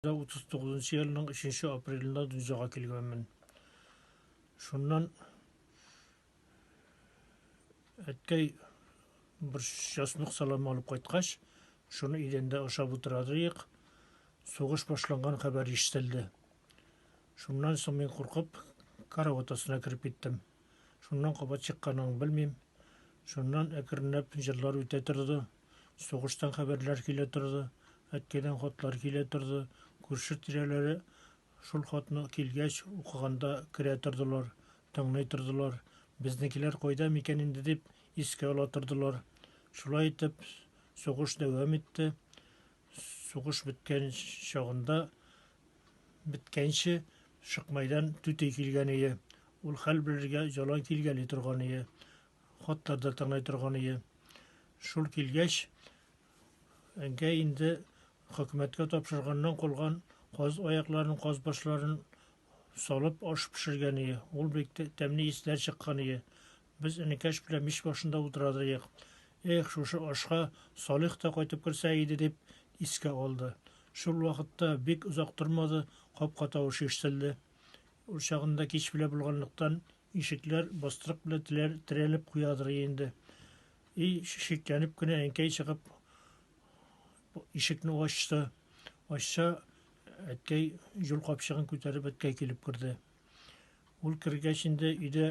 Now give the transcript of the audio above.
39 елның 3 апрелендә дөньяга килгәнмен. Шуннан әткәй бер часнук салам алып кайткач, шуны идәндә ашап утырадык. Сугыш башланган хәбәр ишетелде. Шуннан соң мин куркып, карават астына кереп киттем. Шуннан кабат чыкканын белмим. Шуннан әкренләп җырлар үтә торды. Сугыштан хәбәрләр килә торды, әткәйдән хатлар килә торды. Күрше тирәләре шул хатны килгәч укыганда керә тордылар, тыңлый тордылар. Безнекеләр кайда микән инде дип искә ала тордылар. Шулай итеп, сугыш дәвам итте. Сугыш беткән чагында беткәнче Шыкмайдан түти килгән ие. Ул хәл белергә җалай килгәли торган ие. Хатлар да тыңлай торган ие. Шул килгәч, әнкәй инде хөкүмәткә тапшырганнан калган каз аякларын, каз башларын салып аш пешергән ие. Ул бик тәмле исләр чыккан ие. Без энекәш белән мич башында утырады ек. Эх, шушы ашка Салих та кайтып керсә иде дип искә алды. Шул вакытта бик озак тормады, капка тавышы ишетелде. Ул чагында кич белә булганлыктан, Ишекләр бастырык белән теләр, терәлеп куядыр инде. И, шикләнеп кенә әнкәй чыгып, ишекне ачты. Ачса, әткәй җул капчыгын күтәреп әткәй килеп керде. Ул кергәч инде өйдә